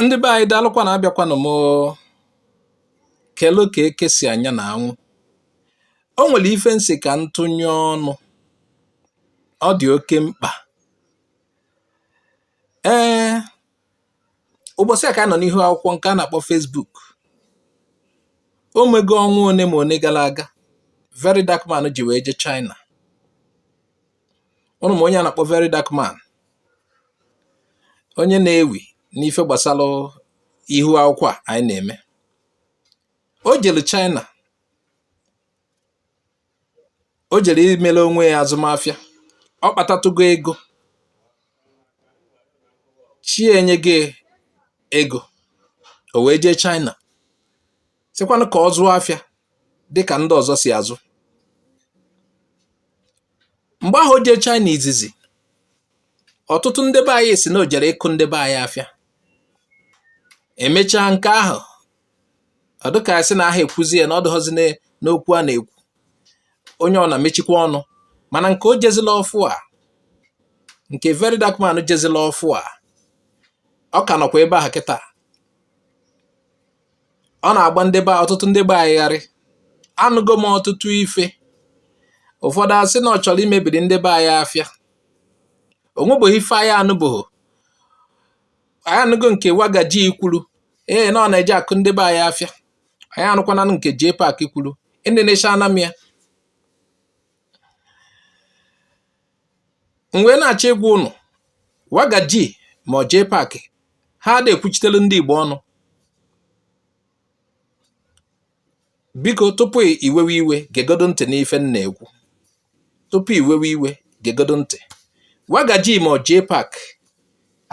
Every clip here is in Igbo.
ndị be anyị daalụkwa na abịakwanụ m kelu ka eke si anya na anwụ o nwere ife m sị ka m tụnye ọnụ ọ dị oke mkpa ee ụbọsị a ka a nọ n'ihu akwụkwọ nke a na-akpọ Facebook o nwego ọnwa one ma one gara aga very dark man ji wee je China ụnụ ma onye a na-akpọ very dark man onye na-ewi n'ife gbasara ihu akwụkwọ a anyị na-eme o jere China o jere imere onwe ya azụmafịa ọ kpatatụgo ego chi enye gị ego o wee jee China sịkwanụ ka ọ zụọ afịa dị ka ndị ọzọ si azụ mgbe ahụ o jee China izizi ọtụtụ ndị be anyị si na o jere ịkụ ndị be anyị afịa emechaa nke ahụ ọ dịka a sị na aha ekwuzi ya na ọ dịghọzi n'okwu a na-ekwu onye ọna emechikwa ọnụ mana nke o jezila ọfụ a nke very dark man jezila ọfụ a ọ ka nọkwa ebe ahụ kịta ọ na-agba ndị be ọtụtụ ndị be anyị gharị anụgo m ọtụtụ ife ụfọdụ asị na ọ chọrọ imebiri ndị be anyị afịa o nwebụghị ife anyị anụbụghị anyị anụgo nke wagaji kwuru ee na ọ na-eje akụ ndị be anyị afịa anyị anụkwana nke JPAC kwuru Indonesia na ya m wee na-achọ ịgwa ụnụ wagaji ma ọ JPAC ha ada ekwuchitelu ndị Igbo ọnụ biko tupu iwewe iwe gegodo ntị n'ife m na-ekwu tupu iwewe iwe gegodo ntị wagaji ma ọ JPAC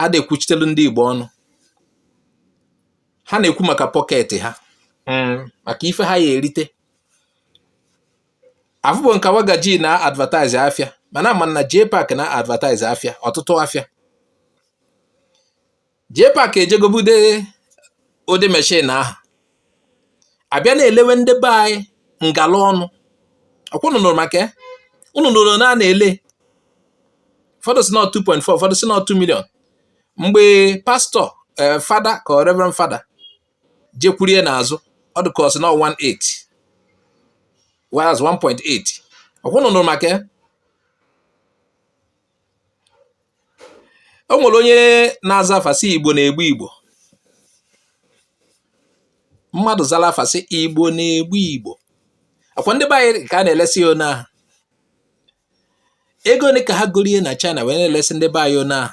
ada ekwuchitelu ndị Igbo ọnụ ha na-ekwu maka pocket ha mm. maka ife ha ya erite afụbọ m ka wagaji na-advertise afịa mana ama m na JPAC na-advertise afịa ọtụtụ afịa JPAC eje gobute ụdị machine ahụ abịa na-elewe ndị be anyị ngala ọnụ ọkwa unu nụrụ maka ya unu nụrụ na a na-ele ụfọdụ sị na 2.4 ụfọdụ sị na 2 million mgbe pastọ eh, fada ka reverend fada jekwurie n'azụ ọ dị ka ọ sị na 18 whereas 1.8 ọkwa unu nụrụ maka ya o nwere onye na-aza afa sị igbo na-egbu igbo mmadụ zara afa sị igbo na-egbu igbo ọkwa ndị be anyị ka a na-elesi ya one ahụ ego ole ka ha gorie na China wee na-elesi ndị be anyị one ahụ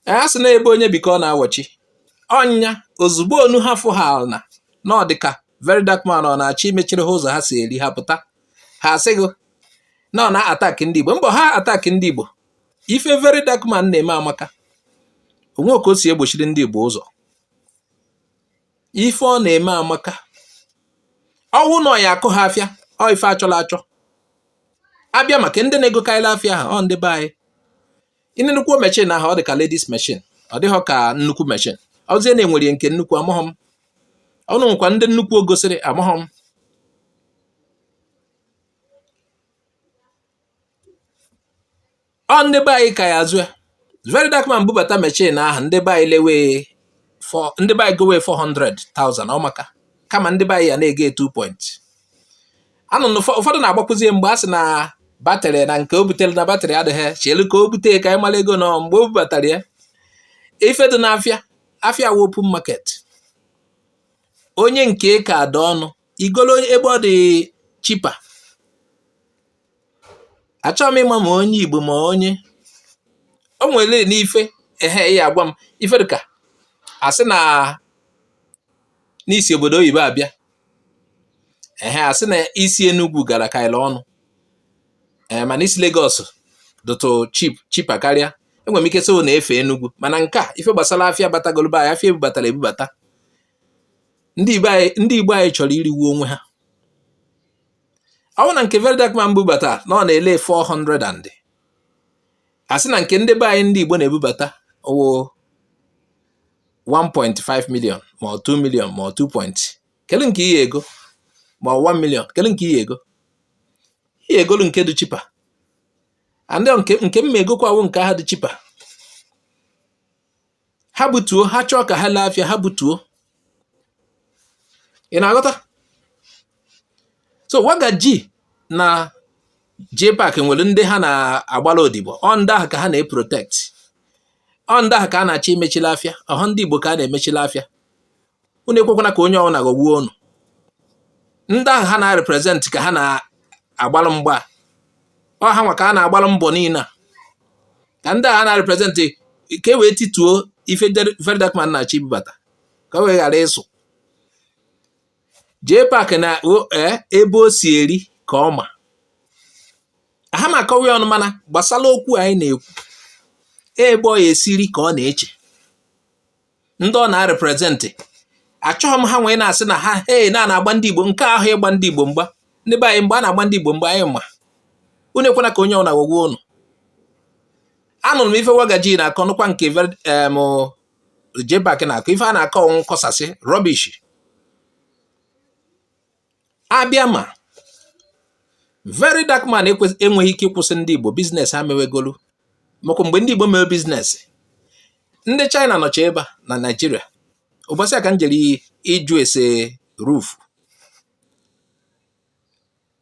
a sị na ebe onye bi ka ọ na-awachi ọ ya ozugbo onu ha fụ ha na na ọ dịka very dark man ọ na-achọ imechiri ha ụzọ ha si eri ha pụta ha asịgo na ọ na-attack ndị Igbo mbọ ha attack ndị Igbo ife very dark man na-eme amaka o nwe ka o si egbochiri ndị Igbo ụzọ ife ọ na-eme amaka ọ wụ na ọ ya akụ ha afịa ọ ife a chọla achọ a bịa maka ndị na-egokarịla afịa ha ọ ndị be anyị ịne nnukwu machine ahụ ọ dị ka ladies machine ọ dịghọ ka nnukwu machine ọ zie na e nwere nke nnukwu amaghọ m ọnụ nwekwa ndị nnukwu o gosiri amaghọ m ọ ndị be anyị ka ya azụ ya very dark man bubata machine ahụ ndị be anyị lewe ndị be anyị gowe 400,000 ọ maka kama ndị be anyị ya na-ego 2 point and ụfọdụ na-agbakwụzi mgbe a sị na battery na nke o butere na battery adịghị chelu ka o bute ka anyị mara ego nọ mgbe o bubatara ya ife dị n'afịa afịa wụ open market onye nke ka ada ọnụ i golo ebe ọ dị cheaper achọghị m ịma ma onye igbo ma onye o nwere n'ife ehe ya agwa m ife dịka a sị na na i si obodo oyibo abịa ehe a sị na isi Enugu gara ka ala ọnụ ee mana isi Lagos dụtụ cheaper karịa enwere m ike so na-efe Enugu mana nke a ife gbasara afịa batagolo be anyị afịa ebubatara ebubata ndị Igbo anyị chọrọ iriwu onwe ha ọ wụ na nke very dark man bubata na ọ na-ele 400 and a sị na nke ndị be anyị ndị Igbo na-ebubata ọ wụ 1.5 million ma ọ 2 million ma ọ 2 point kedu nke i ye ego ma ọ 1 million kedu nke i ye ego i ye egolu nke dị cheaper and nke nke m ma egokwa wụ nke ahụ dị cheaper ha butuo ha chọọ ka ha lee afịa ha butuo ị na-aghọta so waga ji na JPAC nwere ndị ha na-agbara odibo ọ ndị ahụ ka ha na-eprotect ọ ndị ahụ ka a na-achọ imechila afịa ọha ndị Igbo ka a na-emechila afịa unu ekwekwana ka onye ọbụla ghọgbuo unu ndị ahụ ha na-represent ka ha na-agbalụ mgba ọ ha nwa ka a na-agbalụ mbọ niile a ka ndị ahụ ha na-represent ka e wee tituo ife very dark man na-achọ ibubata ka o wee ghara ịsụ JPAC na e, ebe o si eri ka ọ ma aha m akọwa ya ọnụ mana gbasara okwu anyị na-ekwu ebe ọ ya-esi eri ka ọ na-eche ndị ọ na-represent achọghị m ha wee na-asị na ha he na na-agba ndị Igbo nke ahụ ịgba ndị Igbo mgba ndị be anyị mgbe a na-agba ndị Igbo mgba anyị ma unu ekwena ka onye ọbụla ghọgbuo unu anụrụ m ife wagaji na-akọ nụkwa nke JPAC na-akọ ife a na-akọ ọ wụ nkọsasị rubbish abịa ma very dark man enweghị ike ịkwụsị ndị Igbo business ha mewegolu makwa mgbe ndị Igbo mewe business ndị China nọcha ebe a na Naịjirịa ụbọsị a ka m jere ịjụ ese roof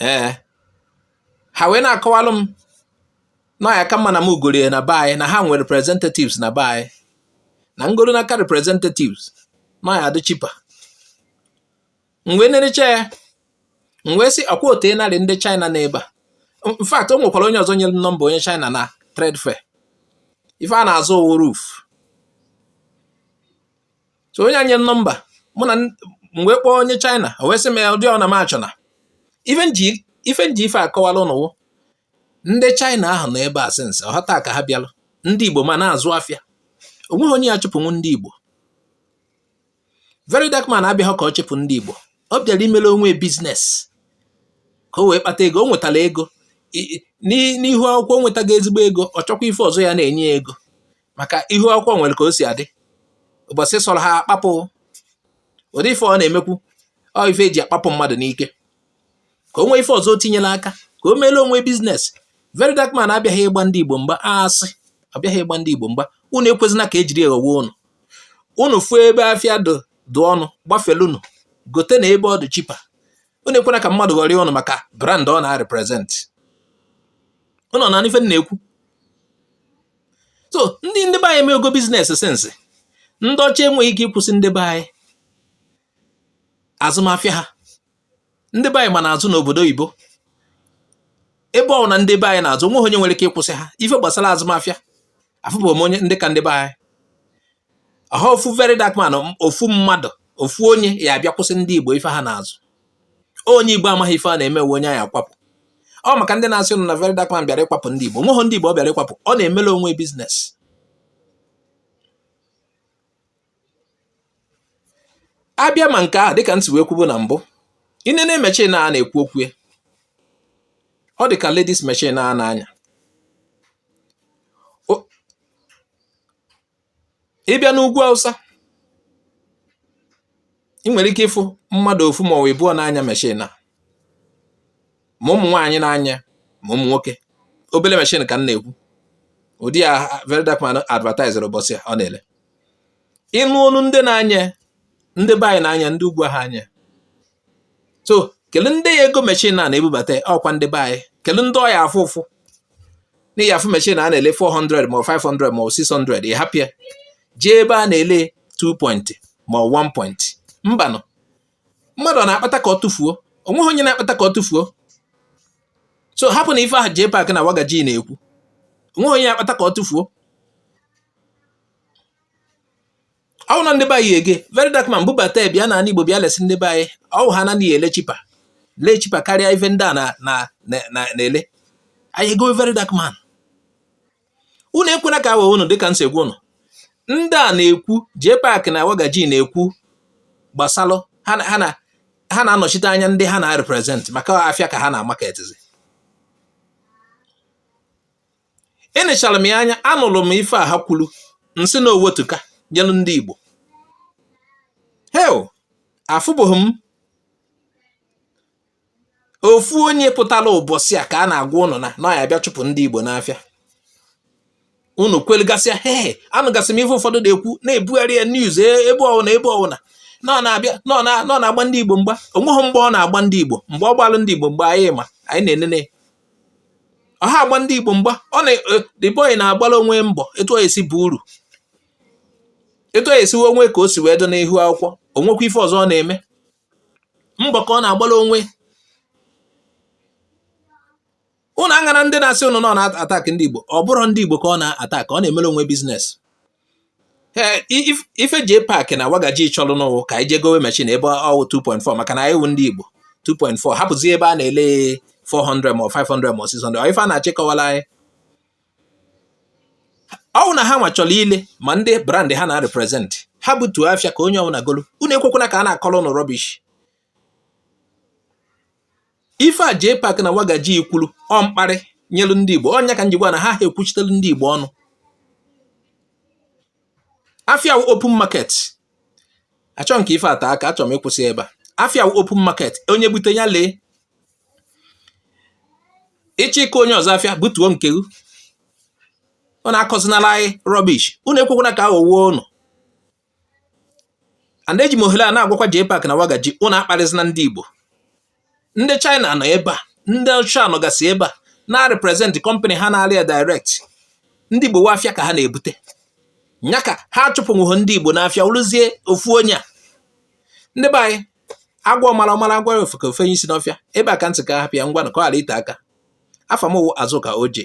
ee eh. ha wee na-akọwalụ m na ya ka mma na mụ goro ya na be anyị na ha nwere representatives na be anyị na m goro n'aka representatives na ya adị cheaper m wee nelecha ya m wee sị ọkwa o tenarị ndị China nọ ebe a in fact o nwekwara onye ọzọ nyere m nọmba onye China na trade fair ife a na-azụ ọ wụ roof so o nye anyị nọmba mụ na m wee kpọọ onye China o wee sị m ya ụdị ọ na m achọna ife m ji ife akọwala ụnụ wụ ndị China ahụ nọ ebe a since ọhọ taa ka ha bịalụ ndị Igbo ma na-azụ afịa onweghị onye ya-achụpụnwu ndị Igbo very dark man abịaghị ka ọ chụpụ ndị Igbo ọ bịara imere onwe business ka o wee kpata ego o nwetara ego n'ihu akwụkwọ nwetago ezigbo ego ọ chọkwa ife ọzọ ya na-enye ya ego maka ihu akwụkwọ nwere ka o si adị ụbọsị sọrọ ha akpapụ ụdị ife ọ na-emekwu ọ ife eji akpapụ mmadụ n'ike ka o nwee ife ọzọ o tinyela aka ka o meela onwe business very dark man abịaghị ịgba ndị Igbo mgba asị abịaghị ịgba ndị Igbo mgba unu ekwezina ka ejiri eghowe unu unu fuo ebe afịa dụ ọnụ gbafelunu gote na ebe ọ dị cheaper unu ekwena ka mmadụ ghọrịa unu maka brand ọ na-represent unu na-anụ ife m na-ekwu so ndị ndị be anyị emego business since ndị ọcha enweghị ike ịkwụsị ndị be anyị azụmafịa ha ndị be anyị ma na-azụ n'obodo oyibo ebe ọ na ndị be anyị na-azụ onweghị onye nwere ike ịkwụsị ha ife gbasara azụmafịa afụbe m onye ndị ka ndị be anyị ọhọ ofu very dark man ofu mmadụ ofu onye ya-abịa kwụsị ndị igbo ife ha na-azụ onye Igbo amaghị ife a na-eme wụ onye a ya-akwapụ ọ maka ndị na-asị ụnụ na very dark man bịara ịkwapụ ndị Igbo nweghị ndị Igbo ọ bịara ịkwapụ ọ na-emere onwe business abịa ma nke ahụ dịka m si wee kwubu na mbụ i nee na machine a na-ekwu okwu ya ọ dị ka ladies machine a na-anya ị bịa n'ugwu awụsa i nwere ike ịfụ mmadụ ofu ma ọ wụ ịbụọ na-anya meshin a ma ụmụ nwaanyị na-anya ma ụmụ nwoke obele meshin ka m na-ekwu ụdị a very dark man advertise ụbọsị ọ na-ele ịnụ ọnụ ndị na-anya ndị be anyị na-anya ndị ugwu ha anya so kele ndị ya-ego mechin a na-ebubata ọ kwa ndị be anyị kele ndị ọ ya-afụ ụfụ na ị ya-afụ mechin a na-ele 400 ma 500 ma 600 ị hapụ ya jee ebe a na-ele 2 point ma 1 point mbanụ mmadụ ọ na-akpata ka ọ tụfuo onweghị onye na-akpata ka ọ tụfuo so hapụ na ife ahụ JPAC na wagaji na-ekwu onweghị onye na-akpata ka ọ tụfuo ọ wụ na ndị be anyị ege very dark man bubata bịa na Igbo bịa lesi ndị be anyị ọ wụ ha anaghị ele cheaper lee cheaper karịa ife ndị a na-ele anyị ego very dark man unu ekwena ka a wa unu dịka m si agwa unu ndị a na-ekwu JPAC na wagaji na-ekwu gbasalụ ha na-anọchite anya ndị ha na-represent maka afịa ka ha na-amaketizi enechara m ya anya anụrụ m ife a ha kwuru m sị na owetuka nyelu ndị Igbo hei afụbeghị m ofu onye pụtara ụbọsị a ka a na-agwa ụnụ na ọ ya-abịa chụpụ ndị Igbo n'afịa unu kwelgasịa he anụgasị m ife ụfọdụ na-ekwu na-ebugharị ya news e, ebe ọwụna ebe ọwụna na ọ na-abịa na ọ na-agba ndị Igbo mgba onweghị mgba ọ na-agba ndị Igbo mgbe ọ gbalụ ndị Igbo mgba anyị ma anyị na-enene ọ ha agba ndị Igbo mgba ọ na eh, the boy na-agbara onwe mbọ etu ọ ya-esi bụ uru etu ọ ya-esi we onwe ka o si wee dị n'ihu akwụkwọ onwekwa ife ọzọ ọ na-eme mbọ ka ọ na-agbara onwe ụnụ aṅana ndị na-asị ụnụ na ọ na-attack ndị Igbo ọ bụrọ ndị Igbo ka ọ na-attack ọ na-emere onwe business ee ife JPAC na wagaji chọrọ nụ wụ ka anyị je gowe mechin ebe ọ wụ 2.4 maka na anyị wụ ndị Igbo 2.4 hapụzi ebe a na-ele 400 ma 500 ma 600 ọ ife ha na-achọ ịkọwala anyị ọ wụ na ha nwa chọrọ ile ma ndị brand ha na-represent ha butuo afịa ka onye ọbụla golu unu ekwekwana ka a na-akọrọ ụnụ rubbish ife a JPAC na wagaji kwulu ọ mkparị nyelu ndị Igbo ọ ya ka m ji kwuo na ha ha ekwuchitelu ndị Igbo ọnụ afia wụ open market achọhọ m ka ife a te aka achọrọ m ịkwụsị ebe a afia wụ open market onye bute ya lee ị chọọ ịka onye ọzọ afịa butuo nke gị unu akọzinala anyị rubbish unu ekwekwana ka a ghọwa ụnụ and eji m ohere a na-agwakwa JPAC na Wagaji ụnụ akparịzina ndị Igbo ndị China nọ ebe a ndị ọcha nọgasị ebe a na-represent company ha na-ele ya direct ndị Igbo wụ afịa ka ha na-ebute nya ka ha chụpụnwụghị ndị Igbo n'afịa wụrụzie ofu onye a ndị be anyị a gwa ọmara ọ mara a gwara ofeke o fenye isi n'ọfịa ebe a ka m sị ka m hapụ ya ngwa na ka ọ ghara ite aka afa m wụ Azụka Oje